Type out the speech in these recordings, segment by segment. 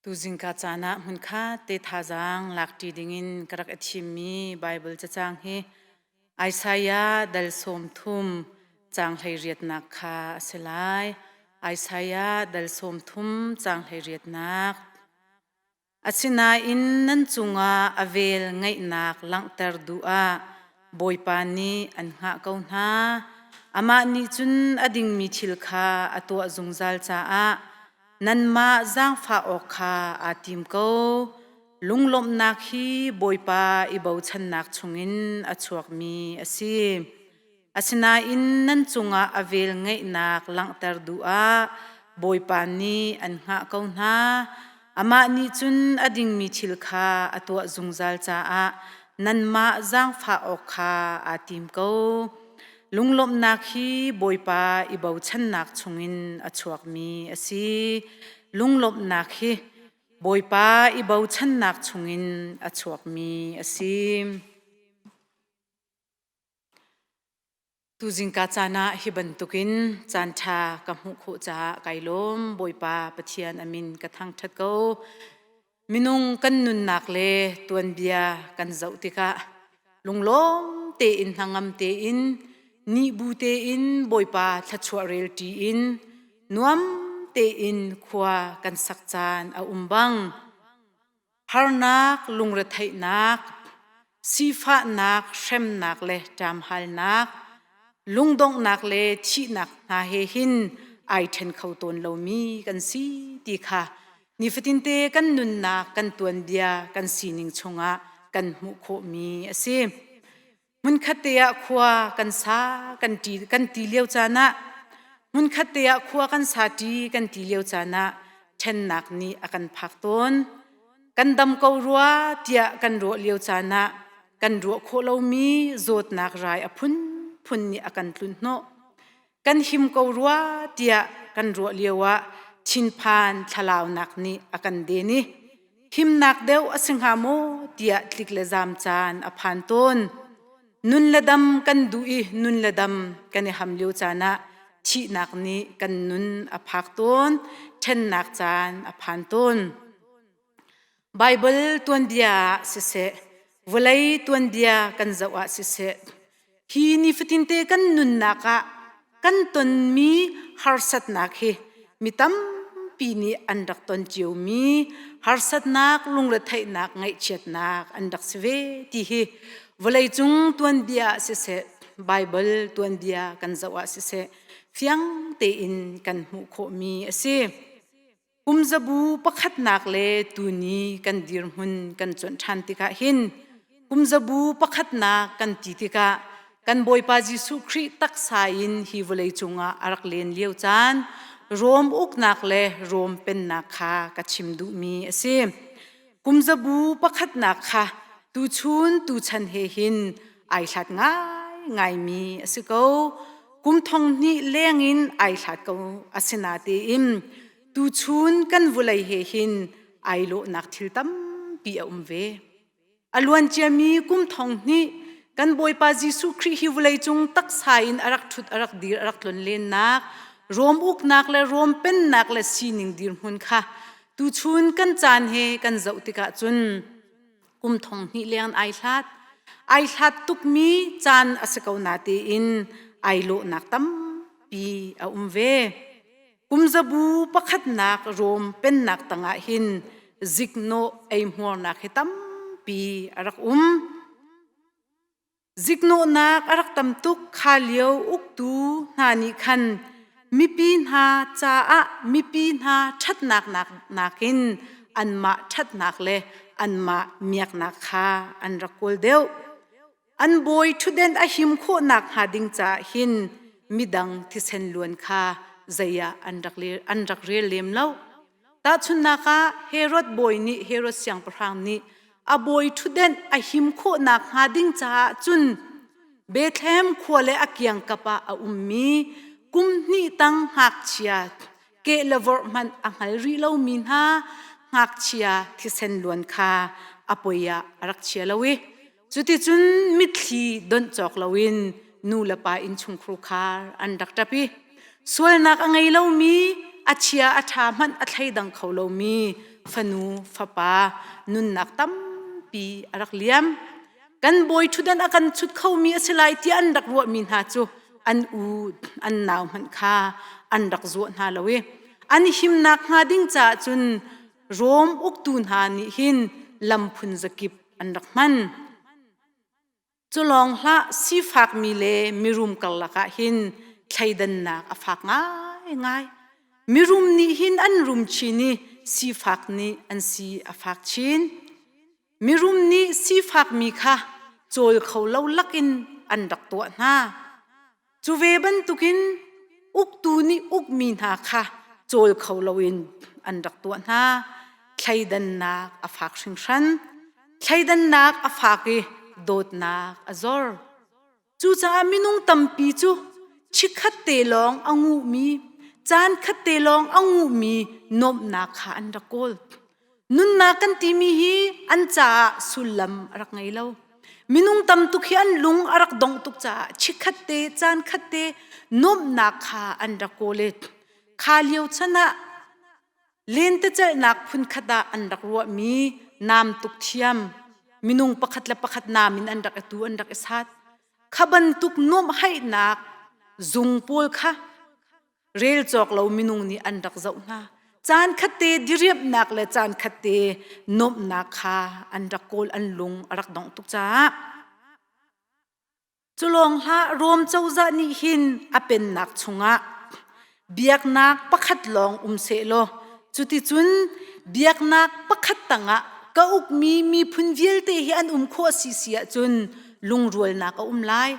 Tuzing ka caan ah hmunkhat te thazaang lakṭi dingin ka rak i thimmi Baibal cacang hi Isaiah dal sawmthum caang hleiriatnak kha a si lai. Isaiah dal sawmthum caang hleiriatnak Asinain nan cungah a vel ngeihnak langhter duh ah Bawipa nih an hngah ko hna. Amah nih cun a dingmi thil kha a tuah zungzal caah nanmah zaangfah awk kha aa tim ko. Lunglawmhnak hi Bawipa i bochannak chungin a chuakmi a si. Asinain nan cungah a velngeihnak langhter duh ah Bawipa nih an hngah ko hna. Amah nih cun a dingmi thil kha a tuah zungzal caah nanmah zaangfah awk kha aa tim ko. Lunglawmhnak hi Bawipa i bochannak chungin a chuakmi a si. Lunglawmhnak hi Bawipa i bochannak chungin a chuakmi a si. Tuzing ka caan ah hi bantukin caanṭha ka hmuh khawh caah kai lawm. Bawipa Pathian a min ka thangṭhat ko. Minung kan nunnak le tuanbia kan zoh tikah lunglawm tein hnangam tein nih bu tein Bawipa thluachuah relṭi in nuam tein khua kan sak caan a um bang. harnak, lungretheihnak, sifahnak, hremnak le ṭamhalnak, lungdonghnak le thihnak hna he hin ai ṭhen kho tawn lomi kan si ti kha nifatinte kan nunnak kan tuanbia kan sining chungah kan hmuh khawhmi a si. Hmunkhat te ah khua kan sa kan ti kan ti lio caan ah hmunkhat te ah khua kan sa ti kan ti lio caan ah ṭhennak nih a kan phak tawn. Kan dam ko rua tiah kan ruah lio caan ah kan ruah khawh lomi zawtnak rai a phunphun nih a kan tlunh hnawh. kan him ko rua tiah kan ruah lio ah thinphan thlalaunak nih a kan den i himnak deuh a si hnga maw tiah tlik le zaam caan a phan tawn nun le dam kan duh i nun le dam kan i ham lio caan ah thihnak nih kan nun a phak tawn ṭhennak caan a phan tawn Baibal tuanbia ah siseh, vawlei tuanbia kan zoh ah siseh, hi nifatinte kan nunnak ah kan tonmi harsatnak hi mi tampi nih an rak ton ciomi harsatnak, lungretheihnak, ngaihchiatnak an rak si ve ti hi vawleicung tuanbia ah siseh, Baibal tuanbia kan zoh ah siseh, fiang tein kan hmuh khawhmi a si. Kumzabu pakhatnak le tuni kan dirhmun kan cuanh ṭhan tikah hin kumzabu pakhatnak kan ti tikah kan Bawipa Jesuh Khrih taksa in hi vawleicung ah a rak len lio caan Rom uknak le Rom pennak kha ka chim duhmi a si. Kumzabu pakhatnak kha tuchun tuchan he hin ai hlat ngaingaimi a si ko. Kum thong hnih lengin ai hlat ko a si na tein tuchun kan vulei he hin ai lawhnak thil tampi a um ve. A luanciami kum thong hnih kan Bawipa Jesuh Khrih hi vawleicung taksa in a rak ṭhut a rak dir a rak tlonlennak Rom uknak le Rom pennak le sining dirhmun kha Tuchun kan caan he kan zoh tikah cun kum thong hnih leng ai hlat ai hlat tukmi caan a si ko na tiin ai lawhnak tampi a um ve. Kumzabu pakhatnak Rom pennak tangah hin ziknawh ei hmuarnak hi tampi a rak um. Ziknawhnak a rak tam tuk kha lio uktu hna nih khan mipi hna caah mipi hna ṭhatnak nakin anmah ṭhatnak le anmah miaknak kha an rak kawl deuh. An bawi ṭhutdenh a him khawh nakhnga ding caah hin midang thisen luan kha zei ah an rak rel lem lo. Tahchunhnak ah, Herod bawi nih Herod siangpahrang nih a bawi ṭhutdenh a him khawh nakhnga ding caah cun Bethlehem khua le a kiangkap ah a ummi kum hnih tang ngakchia keh le vorh hmanh a hngal rih lomi hna ngakchia thisen luan kha a poi ah a rak chia lo i Cuticun mitthli donh cawk loin nu le pa innchungkhur khar an rak ṭap i sualnak a ngei lomi a chia a ṭha hmanh a thleidang kho lomi fanu fapa nunnak tampi a rak liam. Kan bawi ṭhutdan a kan chut khomi a si lai tiah an rak ruahmi hna cu an u an nau hmanh kha an rak zuah hna lo i an him nakhnga ding caah cun Rom uktu hna nih hin lam phun zakip an rak hman. Cu lawng hlah sifakmi le mirum karlak ah hin thleidannak a fak ngaingai. Mirum nih hin an rum chin i sifak nih an si a fak chin. Mirum nih sifakmi kha cawl kho lo lakin an rak tuah hna. Cu ve bantukin uktu nih ukmi hna kha cawl kho loin an rak tuah hna. Thleidannak a fak hringhran. Thleidannak a fak i dawtnak a zor. Cucaah minung tampi cu chikkhat te lawng a nguhmi, caan khat te lawng a nguhmi nuamhnak kha an rak kawl. Nunnak kan timi hi an caah sullam a rak ngei lo. Minung tam tuk hi an lung a rak dongh tuk caah chikkhat te, caan khat te nuamhnak kha an rak kawl i kha lio chan ah Lentecelhnak phunkhat ah an rak ruahmi naam tuk thiam minung pakhat le pakhat naam in an rak i tu an rak i sat. Kha bantuk nuamhaihnak zung pawl kha rel cawk lo minung nih an rak zoh hna. Caan khatte diriamhnak le caan khatte nuamhnak kha an rak kawl an lung a rak dongh tuk caah Culawng hlah Rom cozah nih hin a pennak chungah biaknak pakhat lawng um seh law cuticun biaknak pakhat tangah ka ukmi miphun vialte hi an um khawh a si si ahcun lungrualnak a um lai.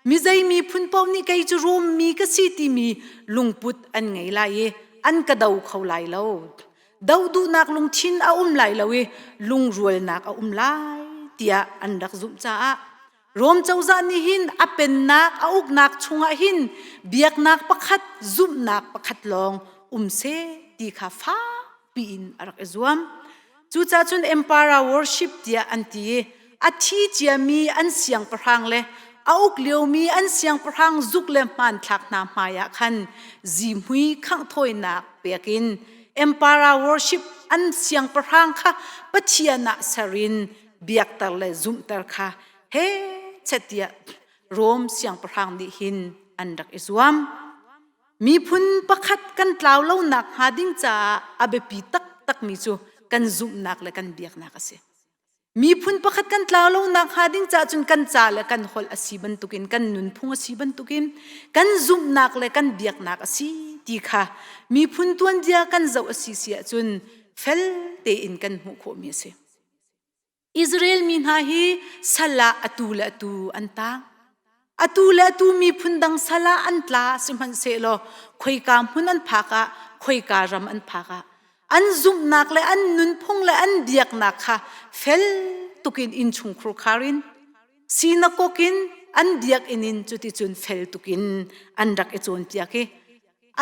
Mizei miphun paoh nih kei cu Rom mi ka si timi lungput an ngei lai i an ka do kho lai lo. Do duhnak lungthin a um lai lo i lungrualnak a um lai tiah an rak zumh caah Rom cozah nih hin a pennak a uknak chungah hin biaknak pakhat zumhnak pakhat lawng um se ti kha fakpi in a rak i zuam. Cucaah cun Empire worship tiah an ti i a thi ciami an siangpahrang le a uk liomi an siangpahrang zuk le hmanthlak hna hmaiah khan zihmui khangh thawinak pek in Empire worship an siangpahrang kha Pathian ah ser in biakter le zumhter kha he chetia Rom siangpahrang nih hin an rak i zuam miphun pakhat kan tlau lo nak hnga ding caah a biapi taktak mi cu kan zumhnak le kan biaknak a si miphun pakhat kan tlau lo nak hnga ding caah cun kan ca le kan holh a si bantukin kan nunphung a si bantukin kan zumhnak le kan biaknak a si ti kha miphun tuanbia kan zoh a si si ahcun fel tein kan hmuh khawh mi a si Israel mi hna hi sal ah atu le atu an tang. Atu le atu miphun dang sal ah an tla sihmanhsehlaw khoika hmun an phak ah khoika ram an phak ah an zumhnak le an nunphung le an biaknak kha fel tukin inn chungkhur khar in sinakok in an biakinn in cuticun fel tukin an rak i cawnpiak i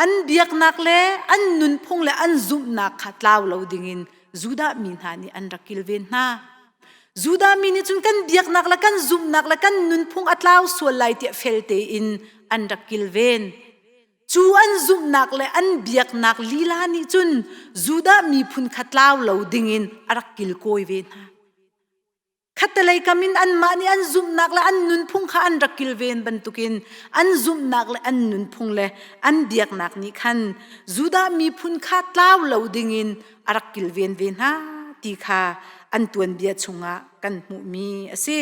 an biaknak le an nunphung le an zumhnak kha tlau lo dingin Judah mi hna nih an rak kilven hna. Judah mi nih cun kan biaknak le kan zumhnak le kan nunphung a tlau sual lai tiah fel tein an rak kilven. Cu an zumhnak le an biaknak lila nih cun Judah miphun kha tlau lo dingin a rak kilkawi ve hna. Khattelei kam in anmah nih an zumhnak le an nunphung kha an rak kilven bantukin an zumhnak le an nunphung le an biaknak nih khan Judah miphun kha tlau lo dingin a rak kilven ve hna ti kha an tuanbia chungah kan hmuhmi a si.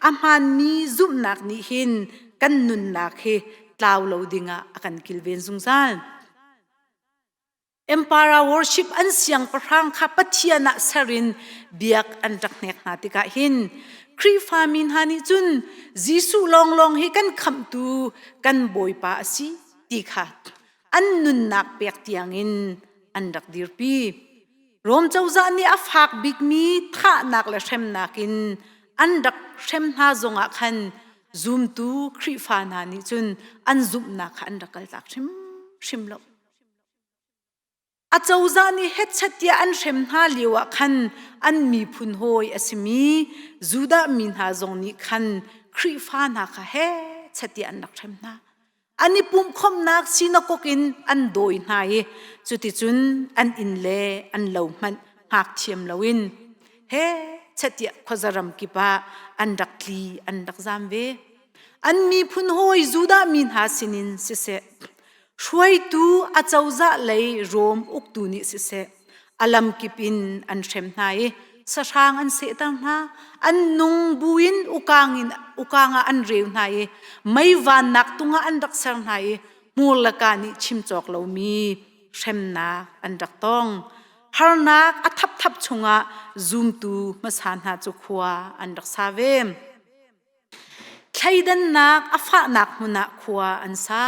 A hmaanmi zumhnak nih hin kan nunnak hi tlau lo dingah a kan kilven zungzal. Empire worship an siangpahrang kha Pathian ah serin biak an rak hnek hna tikah hin Khrihfa mi hna nih cun Jesuh lawnglawng hi kan khamhtu kan Bawipa a si ti kha an nunnak pek tiangin an rak dirpi. Rom cozah nih a fak bikmi thahnak le hremnak in an rak hrem hna zongah khan zumtu Khrihfa hna nih cun an zumhnak kha an rak kaltak hrimhrim lo. Acozah nih hetchet tiah an hrem hna lio ah khan an miphun hawi a simi Judah mi hna zong nih khan Khrihfa hna kha hechet tiah an rak hrem hna. An i pumhkhawmhnak sinakok in an dawi hna i cuticun an inn le an lo hmanh hngak thiam loin hechet tiah khuazaram kip ah an rak tli an rak zam ve. An miphun hawi Judah mi hna sinin siseh, Hruaitu a cozah lei Rom uktu nih siseh, a lamkip in an hrem hna i sahrang an sehter hna. An nung buin ukang, in, ukang ah an reu hna i meivannak tungah an rak ser hna i hmur le kaa nih chim cawk lomi hremnak an rak tong. Harnak a thapthap chungah zumtu hmasa hna cu khua an rak sa ve. Thleidannak a fahnak hmun ah khua an sa.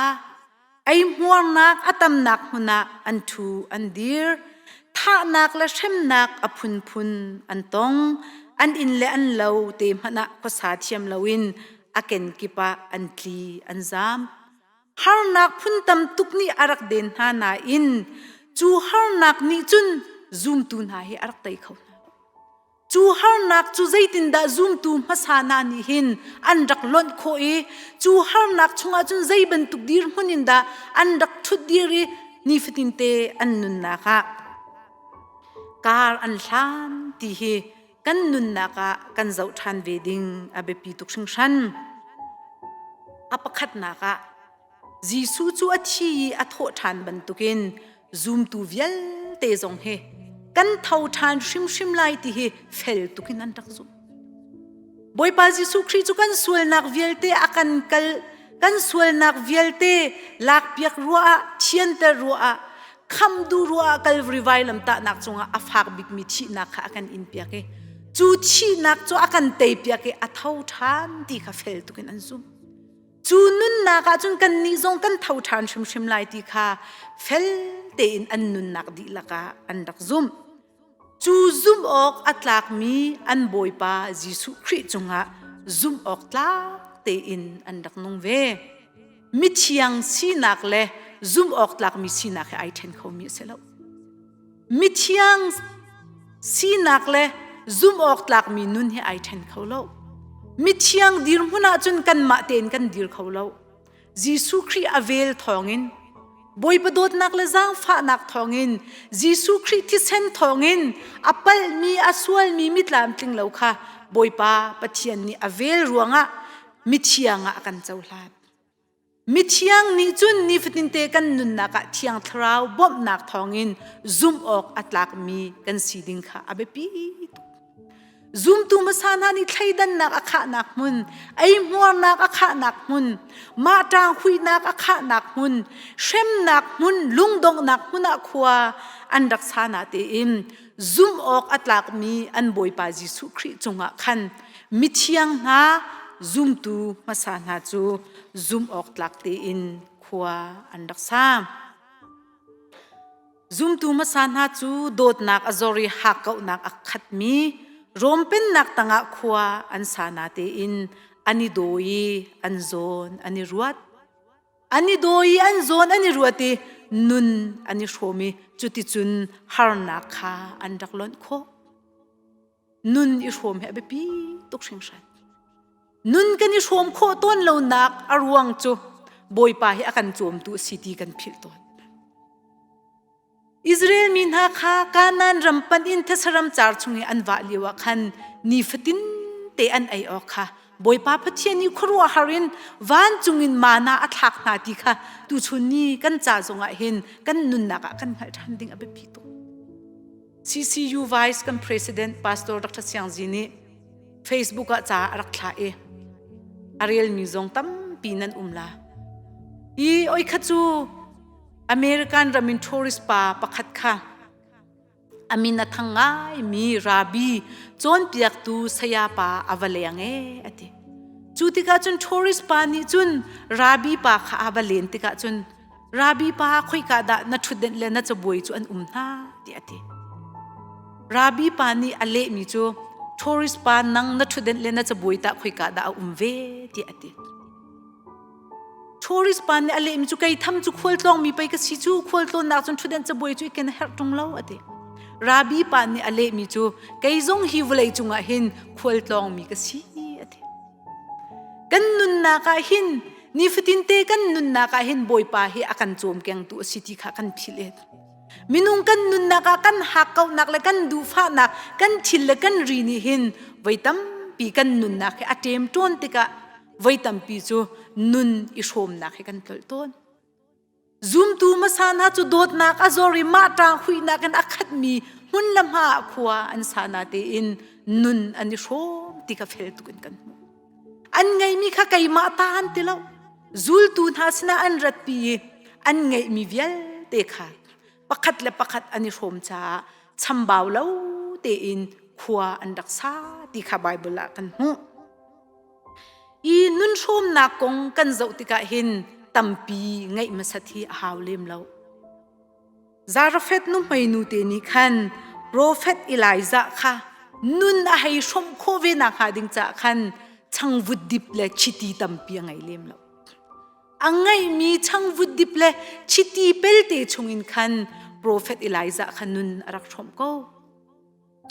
Eihmuarnak a tamnak hmun ah an ṭhu an dir. Thahnak le hremnak a phunphun an tong. An inn le an lo te hmanh ah khuasa thiam loin a kenkip ah an tli an zam. Harnak phun tam tuk nih a rak den hna nain cu harnak nih cun zumtu hna hi a rak tei kho hna lo. Cu harnak cu zeitindah zumtu hmasa hna nih hin an rak lonh khawh i cu harnak chungah cun zei bantuk dirhmun in dah an rak ṭhut dir i nifatinte an nunnak ah kar an hlan ti hi kan nunnak ah kan zoh ṭhan ve ding a biapi tuk hringhran. A pakhatnak ah Jesuh cu a thi i a thawh ṭhan bantukin zumtu vialte zong hi kan tho ṭhan hrimhrim lai ti hi fel tuk in an rak zumh bawipa jesuh khrih cu kan sualnak vialte a kan kal kan sualnak vialte lakpiak ruah ah thianter ruah ah khamdu ruah ah kal rivai lamtahnak cungah a fak bikmi thihnak kha a kan in piak i cu thihnak cu a kan tei piak i a tho ṭhan ti kha fel tuk in an zumh cu nunnak ahcun kannih zong kan tho ṭhan hrimhrim lai ti kha fel tein an nunnak dihlak ah an rak zumh. Cu zumh awk a tlakmi an Bawipa Jesuh Khrih cungah zumh awk tlak tein an rak nung ve. Mithiang sinak le zumh awk tlakmi sinak he ai ṭhen khomi a si lo. Mithiang sinak le zumhawktlakmi nun hi ai ṭhen kho lo. Mithiang dirhmun ahcun kanmah tein kan dir kho lo. Jesuh Khrih a vel thawngin Bawipa dawtnak le zaangfahnak thawngin Jesuh Khrih thisen thawngin a palhmi a sualmi mitlamtling lo kha Bawipa Pathian nih a vel ruangah mithiang ah a kan cohlan. Mithiang nih cun nifatinte kan nunnak ah thiang thlarau bawmhnak thawngin zumh awk a tlakmi kan si ding kha a biapi tuk. Zumtu hmasa hna nih thleidannak a khahnak hmun, eihmuarnak a khahnak hmun, mah ṭang huihnak a khahnak hmun, hremnak hmun, lungdonghnak hmun ah khua an rak sa na tein zumh awk a tlakmi an Bawipa Jesuh Khrih cungah khan mithiang hna zumtu hmasa hna cu zumh awk tlak tein khua an rak sa. Zumtu hmasa hna cu dawtnak a zor i hakkauhnak a khatmi Rom pennak tangah khua an sa na tein an i daw i an zawn an i ruat. An i daw i an zawn an i ruat i nun an i hrawm i cuticun harnak kha an rak lonh khawh. Nun i hrawm hi a biapi tuk hringhran. Nun kan i hrawm khawh tawn lonak a ruang cu Bawipa hi a kan cawmtu a si ti kan philh tawn. Israel mi hna kha Kanaan ram panh in thasaram car chung i an vah lioah khan nifatin te an ei awk kha Bawipa Pathian nih khuaruahhar in vancung in mana a thlak hna ti kha tuchun ni kan ca zongah hin kan nunnak ah kan hngalh ṭhan ding a biapi tuk. CCU Vice kan President Pastor Dr. Siang Zi nih Facebook ah ca a rak thlah i a relmi zong tampi nan um la. I oi kha cu American ram in tourist pa pakhat kha a min a thang ngaimi Rabi cawnpiaktu sayapa a va leng ee a ti. Cu tikah cun tourist pa nih cun Rabi pa kha a va len tikah cun Rabi pa khoika dah na ṭhutdenh le na cabuai cu an um hna tiah a ti. Rabi pa nih a lehmi cu tourist pa nang na ṭhutdenh le na cabuai tah khoika dah a um ve tiah a ti. tourist pa nih a lehmi cu kei tham cu khual tlawngmi pei ka si cu khual tlawnnak cun ṭhut in cabuai cu i ken a herh ṭung lo a ti rabi pa nih a lehmi cu kei zong hi vawlei cungah hin khual tlawngmi ka si a ti kan nunnak ah hin nifatin te kan nunnak ah hin bawipa hi a kan cawm kengtu a si ti kha kan philh e Minung kan nunnak ah kan hakkauhnak le kan duhfahnak, kan thil le kan ri nih hin voi tampi kan nunnak hi a ṭem ṭuan tikah voi tampi cu nun i hrawmnak hi kan tlolh tawn. Zumtu hmasa hna cu dawtnak a zor i mah ṭang huihnak in a khatmi hmun le hma ah khua an sa na tein nun an i hrawm ti kha fel tuk in kan hmuh. An ngeimi kha keimah ta an ti lo. Zultu hna sinah an ratpi i an ngeihmi vialte kha pakhat le pakhat an i hrawm caah chambau lo tein khua an rak sa ti kha Baibal ah kan hmuh. I nunhrawmnak kong kan zoh tikah hin tampi ngeih hmasat hi a hau lem lo. Zarefeth nuhmeinu te nih khan profet Elijah kha nun a hei hrawmh khawh ve nakhnga ding caah khan changvut dip le chiti tampi a ngei lem lo. A ngeimi changvut dip le chiti pelte chungin khan profet Elijah kha nun a rak hrawmh ko.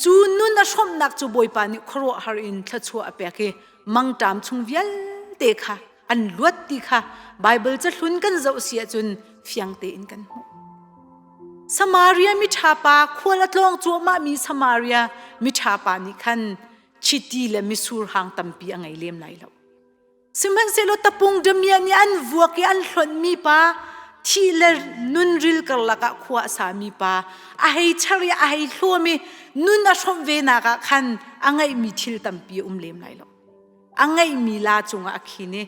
cu nun a hromnak cu bawipa nih khuaruahhar in thluachuah a pek i mangṭam chung vialte kha an luat ti kha Baibal cahlun kan zoh si ahcun fiang tein kan hmuh. Samaria miṭha pa khual a tlawng cuahmah mi Samaria miṭha pa nih khan chiti le misur hang tampi a ngei lem lai lo. Sihmanhsehlaw tapung damiah nih an vuak i an hlonmi pa, thi le nunril karlak ah khua a sami pa, a hei char i a hei hluam i nun a hrawmh venak ah khan a ngeihmi thil tampi a um lem lai lo. A ngeihmi la cungah a khin i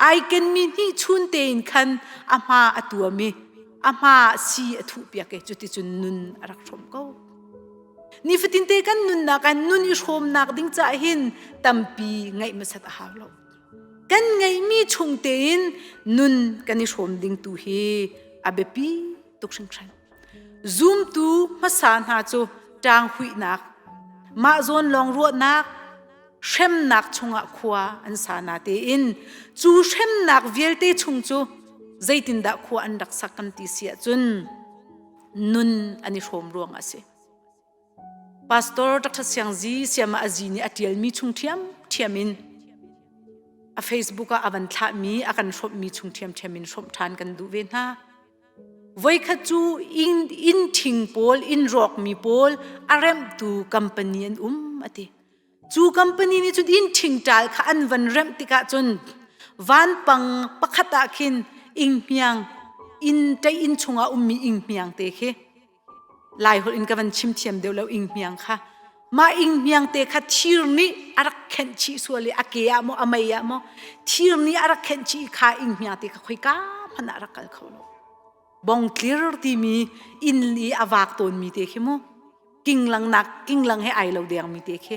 ai kenmi hnihchun tein khan a hma a tuam i a hma si a thuhpiak i cuticun nun a rak hrawmh ko. Nifatin te kan nunnak ah nun i hrawmnak ding caah hin tampi ngeih masat a har lo. Kan ngeihmi chung tein nun kan i hrawm ding tu hi a biapi tuk hringhran. Zumtu hmasa hna cu ṭanghuihnak, mahzawn lawng ruahnak, hremnak chungah khua an sa na tein cu hremnak vialte chung cu zeitindah khua an rak sak kan ti si ahcun nun an i hrawm ruang a si pastor dr siang zi siama azi nih a tialmi chung thiam thiam in a facebook ah a van thlahmi a kan hrawmmi chung thiamthiam in hrawm ṭhan kan duh ve hna voikhat cu in in thing pawl in rawkmi pawl a remhtu company an um a ti Cu company nih cun inn ṭhingṭal kha an van remh tikah cun vanpang pakhat ah khin inghmiang inn ṭei inn chungah ummi inghmiang te khi Laiholh in ka van chim thiam deuh lo inghmiang kha mah inghmiang te kha thir nih a rak khenh chih sual i a ke ah maw a mei ah maw thir nih a rak khenh chih i kha inghmiang te kha khoika hmanh ah rak kal kho lo. bongtlir timi inn i a vak tawnmi te khi mu kinglang nak kinglang he ai lo dengmi te khi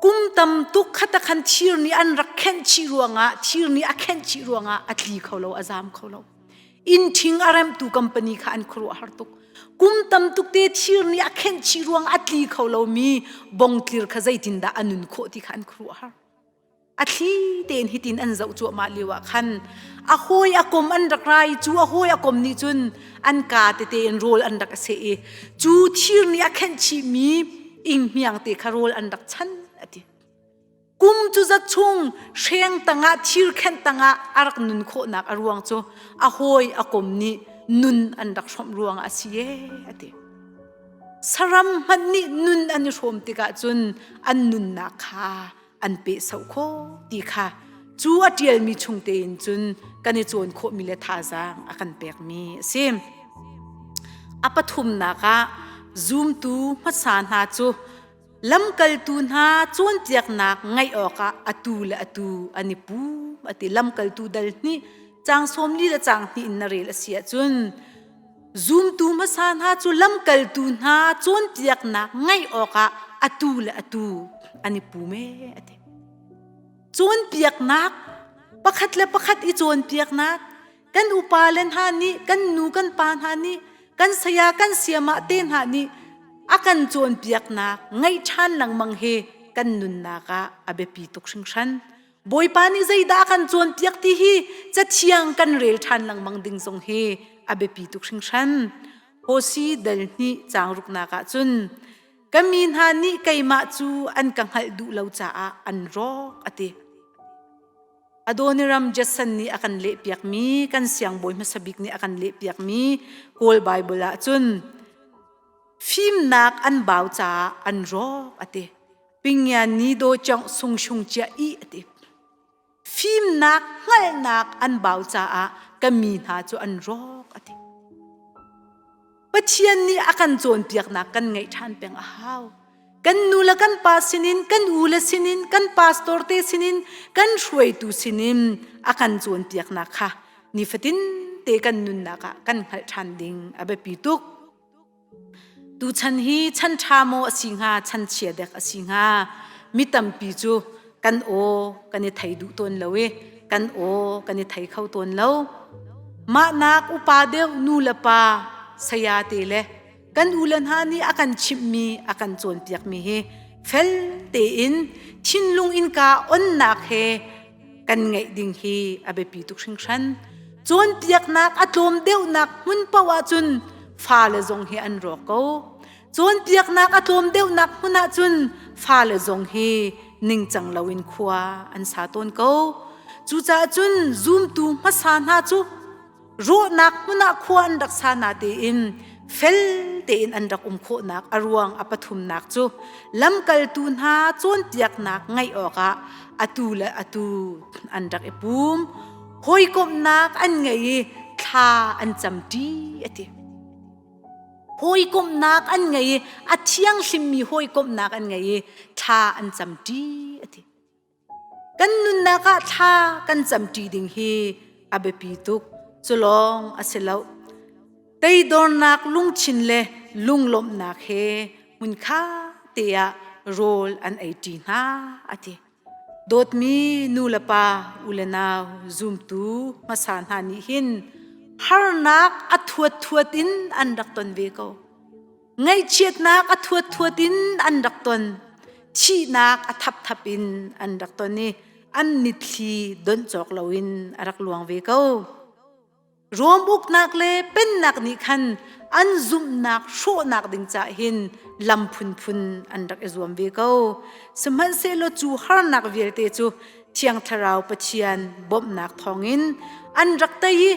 kum tam tuk khata khan thir ni an rak khenh chi ruangah thir ni a khenh chi ruangah a tli kho lo a zam kho lo in thing a remtu company kha an khuruah har tuk kum tam tuk te thir ni a khenh chi ruang a tli kho lomi bongtlir kha zeitin dah anun khawh ti kha an khuruah har a thli tein hitin an zoh cuahmah lio ah khan a hawi a kom an rak ra i cu a hawi a kom nih cun an ka tete in rawl an rak a seh i cu thir nih a khenh chihmi inghmiang te kha rawl an rak chan a ti kum cu zat chung hreng tangah thir khenh tangah a rak nun khawhnak a ruang cu a hawi a kom nih nun an rak hrawmh ruang a si e a ti saram hmanh nih nun an i hrawm tikah cun an nunnak kha an pe so kho ti kha cu a ṭialmi chung tein cun kan i cawn khawhmi le thazaang a kan pekmi a si. A pathumnak ah zumtu hmasa hna cu lamkaltu hna cawnpiaknak ngaih awkah atu le atu an i pum a ti. Lamkaltu dal hnih, caang sawm li le caang hnih in na rel a si ahcun Zumtu hmasa hna cu lamkaltu hna cawnpiaknak ngeih awkah atu le atu an i pum ee a ti. Cawnpiaknak pakhat le pakhat i cawnpiaknak kan upa le hna nih kan nu kan pa hna nih kan saya kan siamah te hna nih a kan cawnpiaknak ngeih ṭhan lengmang hi kan nunnak ah a biapi tuk hringhran. Bawipa nih zeidah a kan cawnpiak ti hi cathiang kan rel ṭhan lengmang ding zong hi a biapi tuk hringhran. Hosi dal hnih caang ruknak ah cun ka mi hna nih keimah cu an ka hngalh duh lo caah an rawk a ti. Adoniram Judson nih a kan lehpiakmi kan siangbawi hmasa bik nih a kan lehpiakmi Kawl Baibal ah cun fimnak an bau caah an rawk a ti. Pingian ni do chong sung shung chia i ati. Fimnak hngalnak an bau caah ka mi hna cu an rawk ati. Pathian nih a kan cawnpiaknak kan ngaih ṭhan peng a hau. Kan nu le kan pa sinin, kan u le sinin, kan pastor te sinin, kan hruaitu sinin a kan cawnpiaknak kha nifatin te kan nunnak ah kan hngalh ṭhan ding a biapi tuk. Tuchan hi chan ṭha maw a si hnga, chan chia dek a si hnga, mi tampi cu kan aw kan i thei duh tawn lo i kan aw kan i thei kho tawn lo. Mahnak upa deuh nu le pa, saya te le kan ule hna nih a kan chimhmi, a kan cawnpiakmi hi fel tein thinlung innka onnak he kan ngeih ding hi a biapi tuk hringhran. Cawnpiaknak a tlawm deuhnak hmun paoh ahcun fale zong hi an rawk ko. Cawnpiaknak a tlawm deuhnak hmun ahcun fale zong hi ningcang loin khua an sa tawn ko. Cucaah cun zumtu hmasa hna cu ruahnak hmun ah khua an rak sa na tein fel tein an rak um khawhnak a ruang a pathumnak cu lamkaltu hna cawnpiaknak ngaih awkah atu le atu an rak i pum hawikomhnak an ngei i thla an camṭi a ti hawikomhnak an ngei i a thianghlimmi hawikomhnak an ngei i thla an camṭi a ti Kan nunnak ah thla kan camṭi ding hi a biapi tuk. Culawng a si loh. Teidornak lungthin le lunglawmhnak he hmunkha te ah rawl an ei ṭi hna a ti. Dawtmi nu le pa u le nau zumtu hmasa hna nih hin harnak a thuat thuat in an rak ton ve ko. Ngaihchiatnak a thuathuat in an rak ton. Thihnak a thapthap in an rak ton i an nithli don cawk loin a rak luang ve ko. Rom uknak le pennak nih khan an zumhnak hrawhnak ding cah hin lam phunphun an rak i zuam ve ko. Sihmanhsehlaw cu harnak vialte cu Thiang Thlarau Pathian bawmhnak thawngin an rak tei i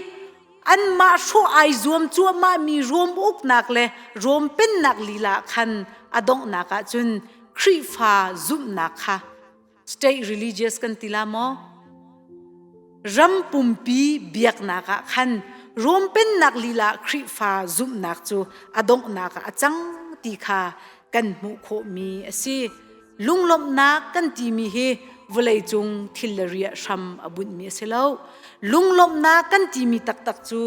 anmah hrawh ai zuam cuahmahmi Rom uknak le Rom pennak lila khan a donghnak ah cun Khrihfa zumhnak kha state religious kan ti la maw ram pumpi biaknak ah khan Rom pennak lila Khrihfa zumhnak cu a donghnak ah a cang ti kha kan hmuh khawhmi a si Lunglawmhnak kan timi hi vawleicung thil le riah hram a bunhmi a si lo. Lunglawmhnak kan timi taktak cu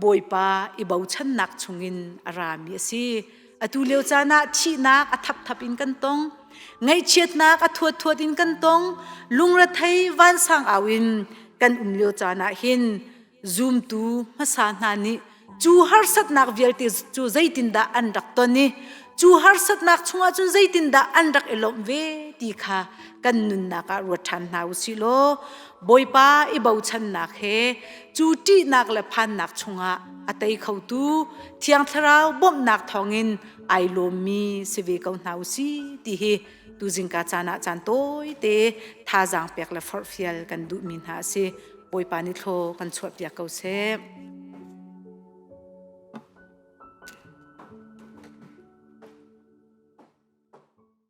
Bawipa i bochannak chungin a rami a si. Atu lio caan ah thihnak a thapthap in kan tong. Ngaihchiatnak a thuathuat in kan tong. Lungrethei vansang au in kan um lio caan ah hin zumtu hmasa hna nih cu harsatnak vialte cu zeitindah an rak ton i cu harsatnak chungah cun zeitindah an rak i lawmh ve ti kha kan nunnak ah ruat ṭhan hna u sih law Bawipa i bochannak he cu ṭihnak le phannak chungah a tei khotu Thiang Thlarau bawmhnak thawngin ai lawmmi si ve ko hna u si ti hi tuzingka caan ah caan tawite thazaang pek le forhfial kan duhmi hna a si Bawipa nih thlo kan chuahpiak ko seh.